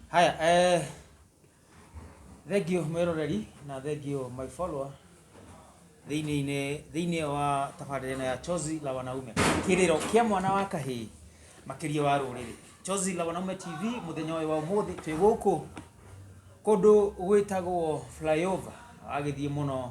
Haya, eh, thank you mwĩroreri na thank you my follower thĩinĩ thĩinĩ wa tabarĩra ĩno ya Chozi la Wanaume kĩrĩro kĩa mwana wa kahĩĩ makĩria wa rũrĩrĩ Chozi la Wanaume TV mũthenya ũyũ wa ũmũthĩ twĩ gũkũ kũndũ gwĩtagwo flyover wagĩthiĩ mũno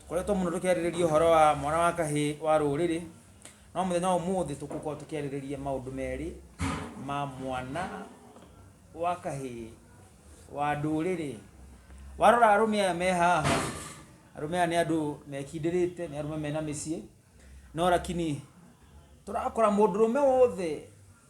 Tũkoretwo mũno tũkĩarĩrĩria ũhoro wa mwana wa kahĩĩ wa rũrĩrĩ, no mũthenya wa ũmũthĩ tũgũkorwo tũkĩarĩrĩria maũndũ merĩ ma mwana wa kahĩĩ wa ndũrĩrĩ. Warora arũme aya me haha, arũme aya nĩ andũ mekindĩrĩte, nĩ arũme mena mĩciĩ, no lakini tũrakora mũndũrũme wothe...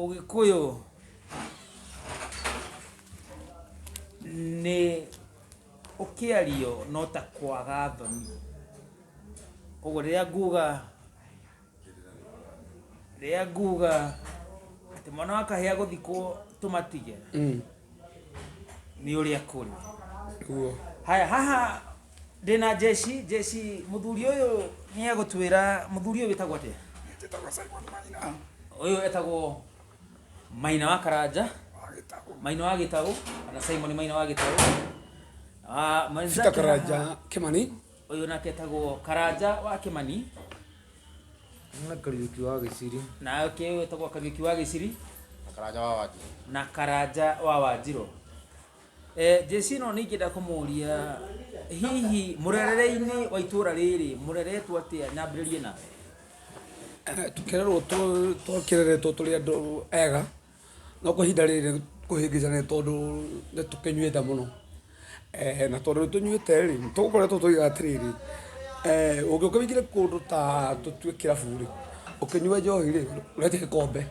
Ũgĩkũyũ nĩ ũkĩario no ta kwaga thoni. Koguo rĩrĩa nguga rĩrĩa nguga atĩ mwana wa kahĩĩ agũthikwo tũmatige nĩ ũrĩa kũrĩ Guo. haya haha ndĩna jeshi jeshi mũthuri ũyũ nĩ egũtwĩra mũthuri ũyũ wĩtagwo atĩa Njĩtagwo Simon Maina. ũyũ etagwo maina wa karanja Agĩtagwo. maina wa gĩtaũ kana simon maina wa gĩtaũ Ah, mwenzake Peter haha- Karanja Kimani. Ũyũ nake etagwo Karanja wa Kĩmani. Na Kariuki wa Gĩciri. Na ũkĩ ũyũ etagwo Kariuki wa Gĩciri. Na Karanja wa Wanjirũ. Na Karanja wa Wanjirũ. Eh, Jesi no nĩ ingĩenda kũmũria hihi mũrerere-inĩ wa itũra rĩrĩ mũreretwo atĩa nyambĩrĩrie na tũkererwo tũkereretwo tũrĩ andũ ega No kwa ihinda rĩrĩ kũhĩngĩca nĩ tondũ nĩ tũkĩnyuĩte mũno. Na tondũ nĩ tũnyuĩte rĩ, nĩ tũgũkoretwo tũkiuga atĩrĩrĩ, ũngĩũka ũingĩre kũndũ ta tũtue kĩrabu rĩ, ũkĩnyue njohi rĩ, ũrĩte gĩkombe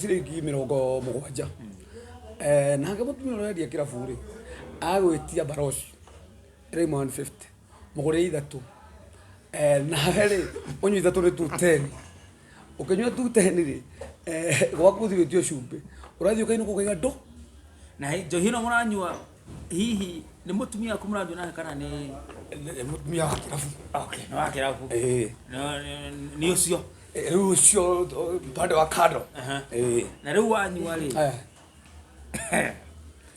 ciringi mĩrongo mũgwanja. Nake mũtumia ũrĩa ũrendia kĩrabu rĩ, agagwĩtia baroci ĩrauma one fifty, mũgũrĩre ithatũ. Nawe rĩ, ũnyue ithatũ nĩ two ten. ukinywa tu teni ri eh, gwaku thi witio cumbi urathi ukainu kugaiga ndo na hi- njohi ĩno mũranyua hihi nĩ mũtumia waku mũranyua nake kana nĩ Nĩ mũtumia wa kĩrabu okay nĩ wa kĩrabu Eh, No, nĩ- nĩ ũcio eh, rĩu ũcio eh, upande wa kando Aha. Eh, na rĩu wanyua rĩ eh.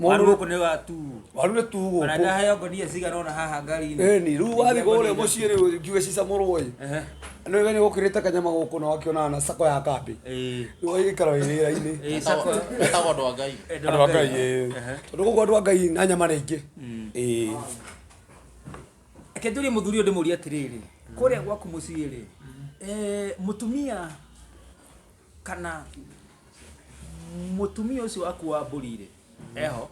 Mũndũ gũkũ nĩ wa tu. Waru nĩ tu gũkũ. Kana ndaheo ngonia cigana ona haha ngari-inĩ. Ĩĩ ni, rĩu wathiĩ kũrĩa mũciĩ rĩ njuge cicamũrwo ĩ. Nĩ we nĩ ũkĩrĩte kanyama gũkũ na wakĩona na sako ya kambĩ. Ĩĩ. Rĩu ũgagĩikara wĩ wĩra-inĩ. Ĩĩ sako. Etagwo andũ a Ngai. Andũ a Ngai ĩĩ. Tondũ gũkũ andũ a Ngai na nyama nĩ aingĩ. Ĩĩ. Reke njũrie mũthuri ũyũ ndĩmũrie atĩrĩrĩ, kũrĩa gwaku mũciĩ rĩ, mũtumia kana mutumia ucio waku wa mburi-rĩ eho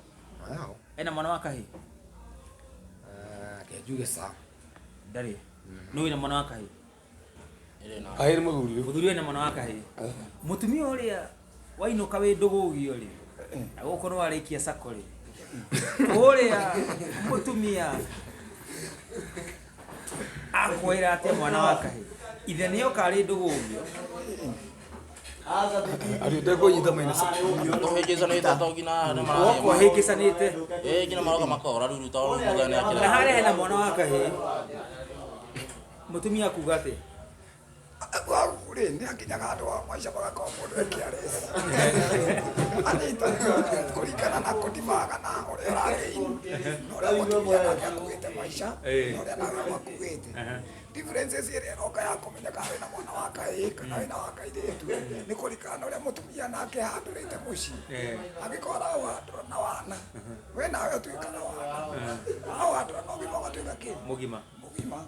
Wow. ena mwana wa kahĩ Ah, kenjuge sa ndarĩ nĩ wĩna mwana wa kahĩ kahiri muthuri uyu mũthuri wĩna mwana wa kahĩ mutumia ũrĩa wainũka wĩ ndũgũgio-rĩ na gũkũ nĩ warĩkia sako-rĩ ũrĩa mutumia akwĩra atĩa mwana wa kahĩ ithe nĩ oka arĩ ndũgũgio ariũnde kũnyita maina Tũhĩngĩcanĩte atongi na arĩa marathiĩ gũkũ ahĩngĩcanĩte Eh, nginya maroka makora ruru tondũ ruru mũthenya nĩ na akĩra harĩa hena mwana wa kahĩ mũtumia kuga atĩ Arwaru rĩ nĩ akinyaga andũ a maica magakorwo mũndũ e careless. Anyita kũringana na kũdimaga na ũrĩa ũragĩini na ũrĩa mũtumia nake akuĩte maica na ũrĩa nawe wakuĩte. Differences ĩrĩa ĩroka ya kũmenya kana wĩna mwana wa kahĩĩ kana wĩna wa kairĩtu nĩ kũringana na ũrĩa mũtumia nake ahandũrĩte mũciĩ. Angĩkorwo araũhandũra na wana we nawe ũtuĩka na wana, waũhandũra na ũgima ũgatuĩka kĩ? Mũgima. ũgima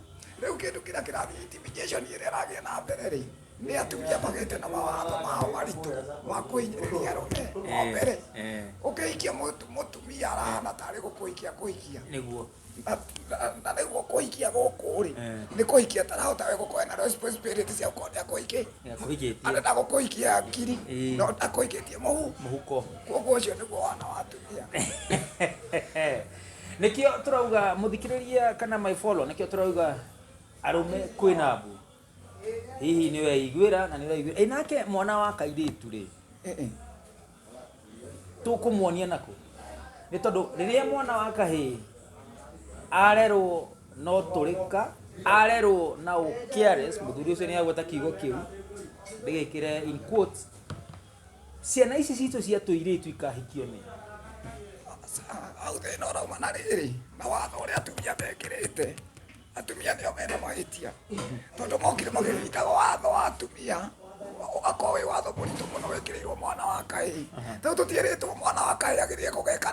rĩu kĩndũ kĩrĩa kĩrathiĩ intimidation ĩrĩa ĩrathiĩ na mbere rĩ nĩ atumia magĩte na mawatho mao maritũ ma kũhinyĩrĩria arũme wa mbere eh. ũkĩhikia mũtu- mũtumia arahana tarĩ gũkũhikia kũhikia nĩguo Na- na- na nĩguo kũhikia gũkũ rĩ Eh. nĩ kũhikia tarahota we gũkorwo na responsibility cia gũkorwo nĩ akũhikia Nĩ akũhikĩtie. arenda gũkũhikia ngiri Eh. no ndakũhikĩtie mũhu mũhuko koguo ũcio nĩguo wana wa atumia Nikio turauga muthikiriria kana my follow nikio turauga arume kwina mbu. Hihi ni we iguira na ni we iguira. Inake eh, mwana wa kairitu ri. Eh eh. Tukumuonia nako. Ni tondu riria mwana wa kahi arerwo no turika arerwo na u careless muthuri ucio ni agweta kiugo kiu ndigikire in quotes Ciana ici citũ cia tũirĩtu ikahikio nĩ hau thĩna ũrauma na rĩrĩ na watho ũrĩa atumia mekĩrĩte atumia nĩo mena mahĩtia tondũ mokire magĩnyitaga watho wa atumia ũgakorwo wĩ watho mũritũ mũno wĩkĩrĩirwo mwana wa kahĩĩ tondũ tũtiĩrĩtwo mwana wa kahĩĩ agĩthiĩ kũgeka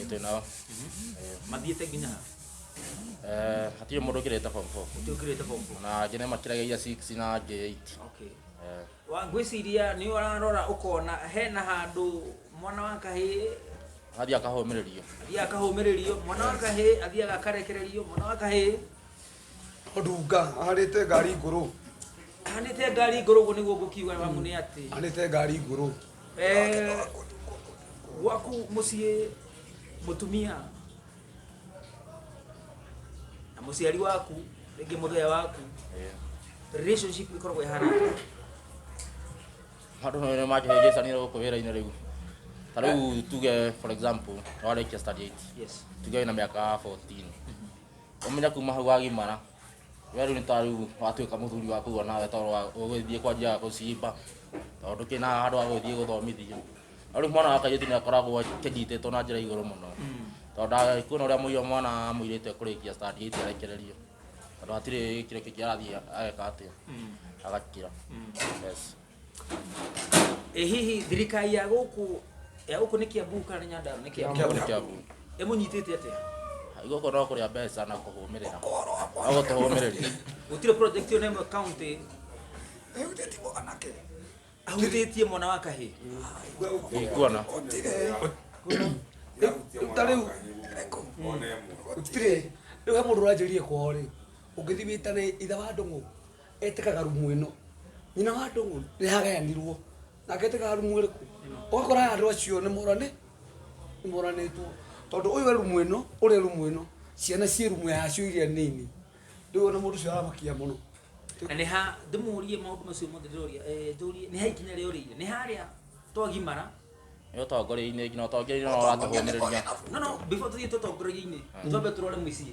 ĩtĩ nao Eh, mathiĩte nginya ha eh, hatirĩ mũndũ ũkĩrĩte form four ũtĩ ũkĩrĩte form four na angĩ nĩ makiragia iria six na angĩ eight okay Eh, Wa- ngwĩciria nĩ ũrarora ũkona hena handũ mwana wa kahĩĩ athiĩ akahũmĩrĩrio athiaga akahũmĩrĩrio mwana wa kahĩĩ athiaga akarekererio mwana wa kahĩĩ Odunga ahandite ngari nguru ahandite ngari nguru guo niguo ngukiuga mamu ni ati ahandite ngari nguru eh gwaku mucii mutumia na muciari waku ringi muthea waku relationship ikoragwo ihana handu no ne maje jesa ni ko wera ina rigu tariu tuge for example wale kia study 8 yes tuge na miaka 14 Omenya kuma hau wagimara we rĩu nĩ ta rĩu watuĩka mũthuri wa kũrua nawe tondũ wa- ũgĩthiĩ kwa njia ya gũcimba tondũ ndũkĩrĩ na handũ ha gũgĩthiĩ gũthomithio na rĩu mwana wa kairĩtu nĩ akoragwo akĩnyitĩtwo na njĩra igũrũ mũno tondũ ndagĩkuona ũrĩa mũiria mwana wa mũirĩtu ekũrĩkia stand eight arekererio tondũ hatirĩ kĩndũ kĩngĩ arathiĩ ageka atĩa agakira yes ĩ hihi thirikari ya gũkũ ya gũkũ nĩ kĩambu kana nĩ nyandarũ nĩ kĩambu Kĩambu. Kĩambu. ĩmũnyitĩte atĩa Gũkũ no kũrĩa mbeca na kũhũmĩrĩra. No gũtũhũmĩrĩria. gũtirĩ project ĩyo na ĩmwe county Ehutĩtwo anake. ahutĩtie mwana wa kahĩ Ndikuona. ta rĩu gũtirĩ rĩu he mũndũ ũranjĩrire kwao rĩ ũngĩthiĩ wĩtane ithe wa ndũng'ũ etĩkaga rumu ĩno nyina wa ndũng'ũ nĩ hagayanirwo nake etĩkaga rumu ĩrĩkũ ũgakora andũ acio nĩ morane nĩ moranĩtwo tondũ ũyũ e rumu ĩno ũrĩa e rumu ĩno ciana ciĩ rumu yacio iria nini rĩu ona mũndũ ũcio aramakia mũno na nä ha ndä må rie maå ndå macio mothe ndä roria njå rie nä ha ikinya rä a å rä ire nä harä a twagimara nä å tongoria-inä nginya å tongoria-inä no ratå hå mä rä ria no no before tå thiä tå tongoria-inä twambe tå rore må ciä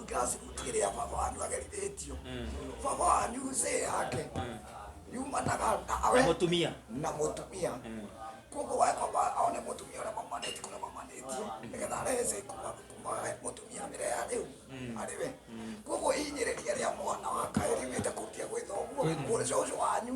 Gas gũtirĩ rĩa baba wanyu agerithĩtio baba wanyu cĩ yake yumanaga na Na awe mũtumia na mũtumia koguo wakomba aone mũtumia ũrĩa mamanĩtie kũrĩa mamanĩtie nĩgetha arehe cĩ kuma kuma we mũtumia mĩre ya rĩu arĩ we koguo inyĩrĩria rĩa mwana wa kaĩ riumĩte kũrutia gwĩtha ũguo mũrĩ cũcũ wanyu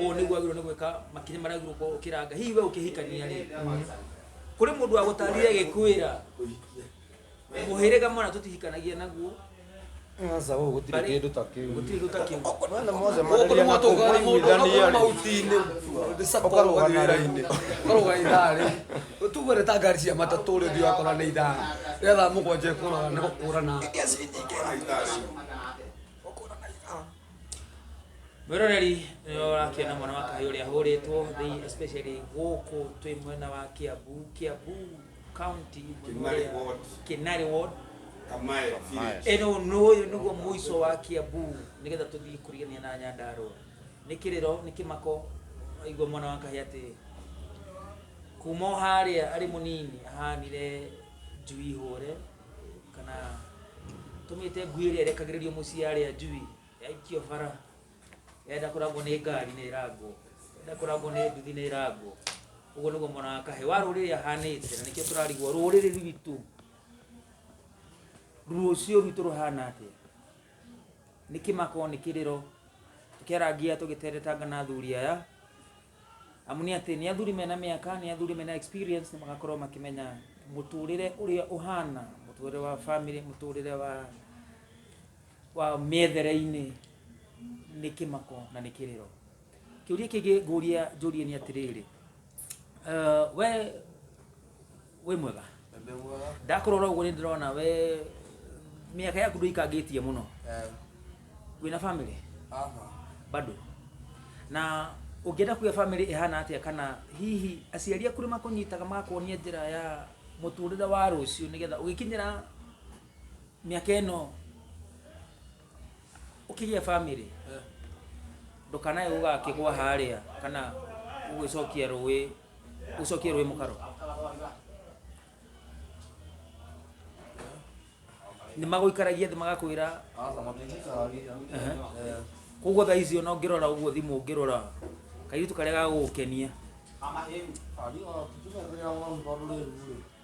ũũ nĩguo agĩrĩirwo nĩ gwĩka makinya marĩa agĩrĩirwo gũkorwo ũkĩranga hihi we ũkĩhikania rĩ kũrĩ mũndũ wagũtarire gĩkwĩra mũhĩrĩga mwana tũtihikanagia naguo Aca ũũ gũtirĩ Bari. kĩndũ ta kĩu. gũtirĩ kĩndũ ta kĩu Mwana mothe Gũkũ mararia nĩ na kũu mwatũngana mũndũ ũgakorwo mwaiguithania-rĩ. mauti-inĩ ndĩcakwa Ũkarũgana ũgathiĩ rĩ. wĩra-inĩ ũkarũga ithaa rĩ tuge nĩ ta ngari cia matatũ rĩ ũthiĩ wakora nĩ ithaa rĩa thaa mũgwanja ĩkũraga nĩ gũkũrana mwĩroreri nĩwe ũrakĩona mwana wa kahĩ ũrĩa ahũrĩtwo thĩ- especially gũkũ twĩ mwena wa kiambu kiambu county mwena Kinari ũrĩa- ward. kinari ward Kamae village. eno noyo niguo muico wa kiambu nigetha tuthii kurigania na nyandarua ni kiriro ni kimako aigua mwana wa kahi ati kuma o haria ari munini ahanire njui hore kana tũmĩte ngui ĩrĩa ĩrekagĩrĩrio mũciĩ arĩa njui yaikio bara yenda kũragwo nĩ ngari nĩ ĩrangwo yenda kũragwo nĩ nduthi nĩ ĩrangwo ũguo nĩguo mwana wa kahĩ wa rũrĩrĩ ahanĩte na nĩkĩo tũrarigwo rũrĩrĩ rwitũ rũciũ rwitũ rũhana atĩa nĩ kĩmako nĩ kĩrĩro tũkĩarangia tũgĩteretanga na athuri aya amu nĩ atĩ nĩ athuri mena mĩaka nĩ athuri mena experience nĩ magakorwo makĩmenya mũtũrĩre ũrĩa ũhana mũtũrĩre wa family mũtũrĩre wa wa mĩethere-inĩ nĩ kĩmako na nĩ kĩrĩro kĩũria kĩngĩ ngũria njũrie nĩ atĩrĩrĩ uh, we wĩ mwega ndakũrora ũguo nĩ ndĩrona we mĩaka yaku ndũikangĩtie mũno wĩna family bado na ũngĩenda kuga family ĩhana atĩa kana hihi aciari aku nĩ makũnyitaga magakuonia njĩra ya mũtũrĩre wa rũciũ nĩgetha ũgĩkinyĩra mĩaka ĩno ukirie family ndukanae gugakigwa haria kana ugicokia rui ucokie rui mukaro ni maguikaragia thi magakwira koguo thaa icio no ngirora uguo thimu ngirora kairitu karia gagugukenia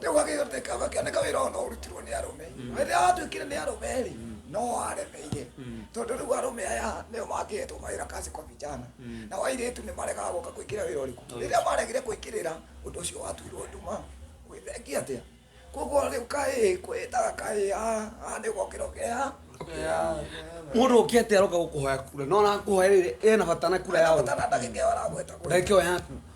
rĩu agĩthondeka gakĩoneka wĩra ona ũrutirwo nĩ arũme rĩrĩa watuĩkire nĩ arũme rĩ no waremeire tondũ rĩu arũme aya nĩo mangĩhetwo mawĩra kazi kwa vijana na wairĩtu nĩ maregaga gũka kũingĩra wĩra ũrĩkũ rĩrĩa maregire kũingĩrĩra ũndũ ũcio watuirwo nduma gwĩthengia atĩa koguo rĩu kaĩ kwĩtaga kaĩ a nĩ gokĩra ũkeha mundu ukite aroka gukuhoya kura no na kuhoya riri ena bata na kura ya uri batana ndagĩkĩoya aragweta kũrĩ ndagĩkĩoya yaku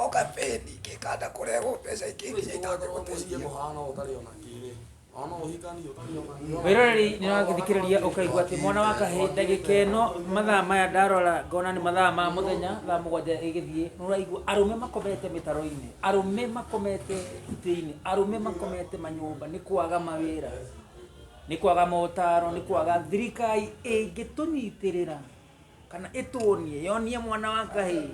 O kambĩini kĩkanda kũrehwo mbeca ingĩ iria Kristo wothe wa mũririe itangĩgũteithia. mũhaano ũtarĩ o na kĩrĩ, o na ũhikani ũtarĩ o na kĩrĩ. Wĩroreri nĩ ũragĩthikĩrĩria ũkaigua atĩ mwana wa kahĩĩ ndagĩkeno mathaa maya ndarora ngona nĩ mathaa ma mũthenya thaa mũgwanja ĩgĩthiĩ nĩ ũraigua arũme makomete mĩtaro-inĩ arũme makomete itĩ-inĩ arũme makomete manyũmba nĩ kwaga mawĩra nĩ kwaga motaro nĩ kwaga thirikari ĩngĩtũnyitĩrĩra kana ĩtũonie yonie mwana wa ngai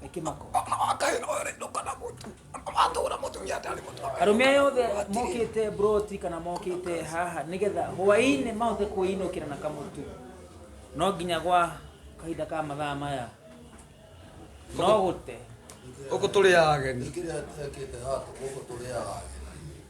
nĩ kĩmako mwana wa ngai no rĩ ndũkana mũtu matũra mũtumia atarĩ mũtu arũme aya othe mokĩte broti kana mokĩte haha nĩgetha hwainĩ mahote kwĩinũkĩra na kamũtu no nginya gwa kahinda ka mathaa maya no gũte gũkũ tũrĩ ageni Kile yake hata huko tolea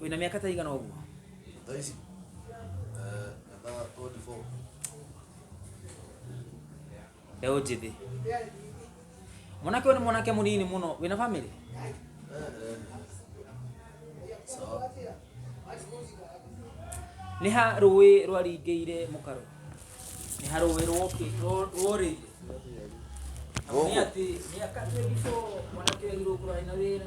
wĩna mĩaka ta igana ũguo Thaa ici eh, na 24 mbeũ njĩthĩ mwanake ũyũ nĩ mwanake mũnini mũno wĩna famĩlĩ Eh, eh. sawa nĩ ha rũĩ rwaringĩire mũkarũ nĩ ha rũĩ rwoki- rwo- rworĩire Amu nĩ Gũkũ. atĩ mĩaka 24 mwanake ũyũ agirwo kũrarĩ na wĩra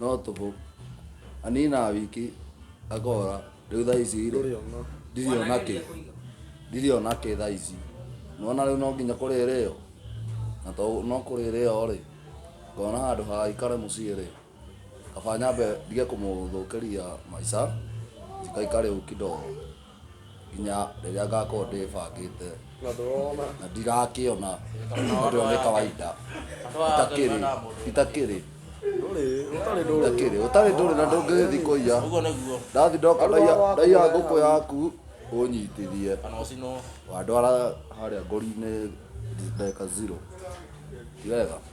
no tũhũ anina wiki akora rĩu thaa ici rĩ Ndũrĩona. ndirĩ ona kĩ ndirĩ ona kĩ thaa ici nona rĩu no nginya kũrĩrĩ yo na to no kũrĩrĩ yo rĩ ngona handũ ha ikare mũciĩ rĩ kaba nyambe ndige kũmũthũkĩria maica njikaikare ũũ kidogo nginya rĩrĩa ngakorwo ndĩbangĩte na ndirakĩona ũndũ ũyũ nĩ kawaida itakĩrĩ itakĩrĩ itakĩrĩ ũtarĩ ndũrĩ na ndũngĩgĩthiĩ kũiya Ũguo nĩguo. ndathi ndoka ndaiya ndaiya ngũkũ yaku ũnyitithie Kana ũcinwo. wandwara harĩa ngori-inĩ ndeka zero ti wega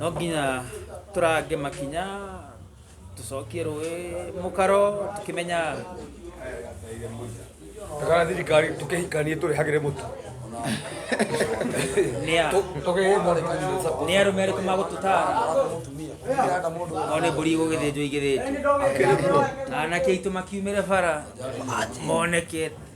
no nginya tũrange makinya tũcokie rũĩ mũkaro tũkĩmenya Takana thirikari tukihikanie turihagire mutu. nĩ a- Tukihe mwana kanyu sako. nĩ arũme arĩkũ magũtũtara Kiranda mundu. o nĩ mbũri igũgĩthĩnjwo igĩthĩnjwo anake aitũ makiumĩre bara monekete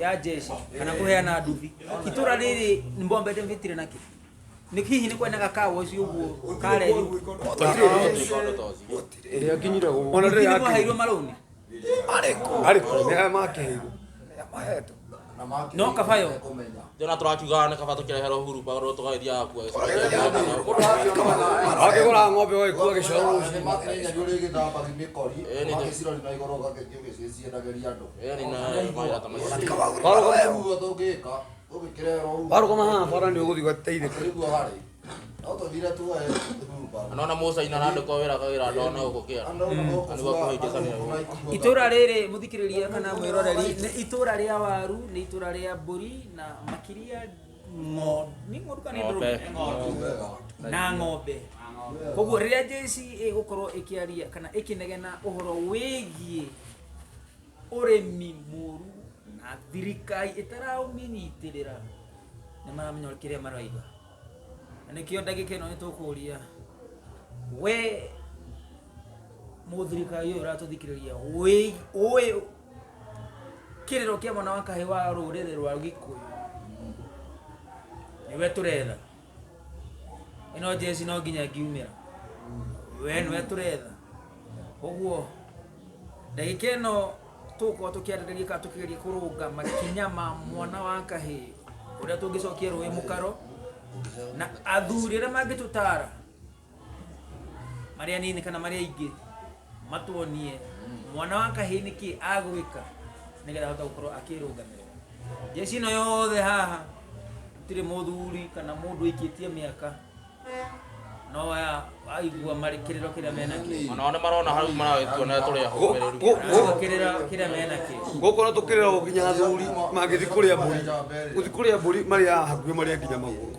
ya jeshi kana kuheana nduthi itura riri mbombete mvitire naki nä hihi nä kwenaga kawa å cio å guo kareri ĩrĩa nginyire gũkũ ona ndä nä mwaheirwo maroni arĩkũ nĩ aya makĩheirwo mahetwo no kabayo jona turakiuga nä kaba tå kä reherwo huru pagå tå gaithiaga kuo akĩgũra ng'ombe waikuo gĩcoro rũciinĩ Ĩĩ, nĩ njũĩ. warũgama haha bara nĩ ũgũthiĩ ũgateithĩka anona musa ina nande kwa wira kagira ndona uko kia anigwa kuhaitisania itũra rĩrĩ mũthikĩrĩria kana mwĩroreri nĩ itũra rĩa waru nĩ itũra rĩa mbũri na makĩria ng'ondu nĩ ng'ondu kana nĩ Ng'ombe. ndũrũme? na ng'ombe koguo rĩrĩa jc ĩgũkorwo ĩkĩaria kana ĩkĩnegena ũhoro wĩgiĩ ũrĩmi mũru na thirikari ĩtaraũmĩnyitĩrĩra nĩ maramenya kĩrĩa maraiga na nĩkĩo ndagĩka ĩno nĩtũkũria we mũthirikari ũyũ ũratũthikĩrĩria ũĩ- ũĩ kĩrĩro kĩa mwana wa kahĩ wa rũrĩrĩ rwa gĩkũyũ nĩwe tũretha ino jesi no nginya ngiumĩra we nwe tũretha koguo ndagĩka ĩno tũgũkorwo tũkĩarĩrĩria kana tũkĩgeria kũrũnga makinya ma mwana wa kahĩ ũrĩa tũngĩcokia rũĩ mũkaro na athuri arĩa mangĩtũtara marĩa nini kana marĩa ingĩ matuonie mwana wa kahĩĩ nĩ kĩ agwĩka nĩgetha ahote gũkorwo akĩrũgamĩrĩra jeshi ĩno yothe haha gũtirĩ mũthuri kana mũndũ aikĩtie mĩaka no aya aigua marĩ kĩrĩro kĩrĩa menakĩo Ona ona marona hau maragĩtua na tũrĩa homereri. kĩrĩra kĩrĩa menakĩo gũkũ no tũkĩrĩra gũkinya athuri mangĩthi kũrĩa mbũri gũthi kũrĩa mbũri marĩa hakuhĩ marĩa nginya magũrũ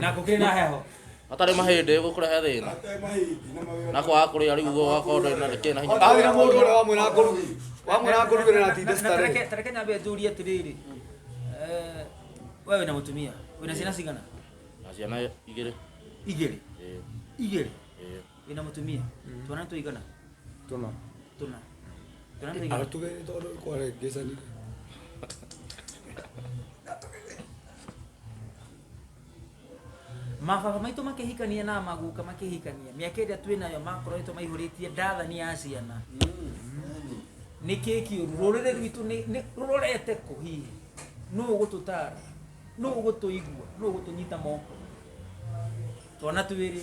na kå kä rä na heho hatarä mahä ndä gå kå rehe thä na na kwaga kå rä a rä u guo gakorwo ndå na kä na hinya Arĩ na mũndũ ũrĩa wamwĩra akũruge. Wamwĩra akũruge na atinde Na- na staree. tareke- tareke nyambe njũrie atĩrĩrĩ eh, we wĩna mũtumia wĩna ciana cigana na ciana igä rä igĩrĩ igĩrĩ wĩna mũtumia twana tũigana tũna tũna twana tũigana agatugä tondå kwarengecani mababa maitũ makĩhikania na maguka makĩhikania mĩaka ĩrĩa twĩ nayo makoretwo maihũrĩtie ndathani ya ciana nĩ kĩĩ kĩũru rũrĩrĩ rwitũ nĩ- nĩ rũrorete kũ hihi nũ ũgũtũtara nũ ũgũtũigua nũ ũgũtũnyita moko twana twĩrĩ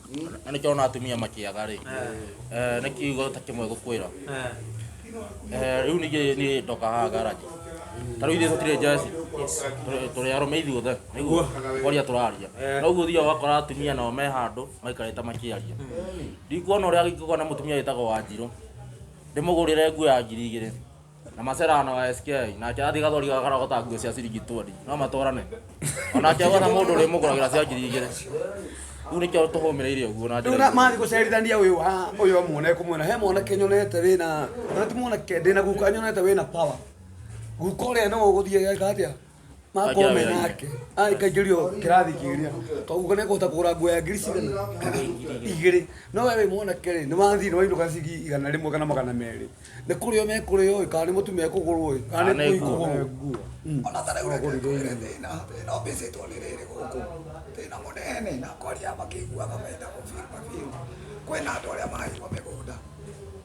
na nĩkĩo ona atumia makĩaga rĩ eh, nĩ kiugo ta kĩmwe gũkwĩra Eh, rĩu ningĩ niĩ ndoka haha garaji ta rĩu ithuĩ tũtirĩ njeci Tũrĩ- tũrĩ arũme ithuothe nĩguo kwaria tũraria na ũguo thiaga wakora atumia nao me handũ maikarĩte makĩaria ndikuona ũrĩa ingĩkorwo na mũtumia wĩtagwo wanjirũ ndĩmũgũrĩre nguo ya ngiri igĩrĩ na macerana wa SK nake athi gathori gakarogota nguo cia ciringi twani no matwarane onake agwa na mundu ri muguragira cia ngiri igiri riu nikio tuhumireire uguo na Rĩu na- mathiĩ gũcerithania ũyũ wa ũyũ amwone kũmwona he mwanake nyonete wĩna ona ti mwanake ndĩna guka nyonete wĩna power guka ũrĩa no ũgũthiĩ geka atĩa makorwo me nake aikaingĩrio kĩrathi kĩrĩa koguo nĩ kũhota kũgũra nguo ya ngiri cigana igĩrĩ no we wĩ mwanake rĩ nĩ wathiĩ nĩ wainũka cigi igana rĩmwe kana magana merĩ nĩ kũrĩo mekũrĩo ĩ kana nĩ mũtumia ekũgũrwo ĩ kana nĩ kũi kũgũrwo ona ta rĩu reke ngwĩre thĩna thĩna ũmbĩcĩtwo nĩ rĩrĩ gũkũ thĩna mũnene na kwaria makĩiguaga menda kũbiribabirwo kwĩna andũ arĩa maraigua mĩgũnda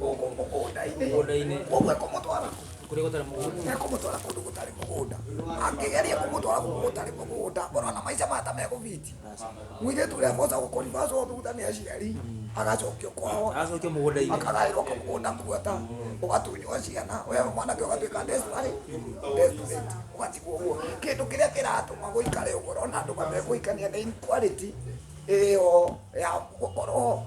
mũgũnda-inĩ koguo ekũmũtwara kũrĩa gũtarĩ mũgũnda ekũmũtwara kũndũ gũtarĩ mũgũnda angĩgeria kũmũtwara kũndũ gũtarĩ mũgũnda ũrona maica mata megũbiti mũirĩtu ũrĩa boca gũkũribacwo thutha nĩ aciari agacokio kwao agacokia mũgũnda-inĩ akagaĩrwo kamũgũnda kuota ũgatunywo ciana we mwanake ũgatuĩka ndesbarĩ ndesbarĩti ũgatigwo ũguo kĩndũ kĩrĩa kĩratũma gũikare ũguo ũrona andũ matekũhikania nĩ inequality ĩyo ya gũkorwo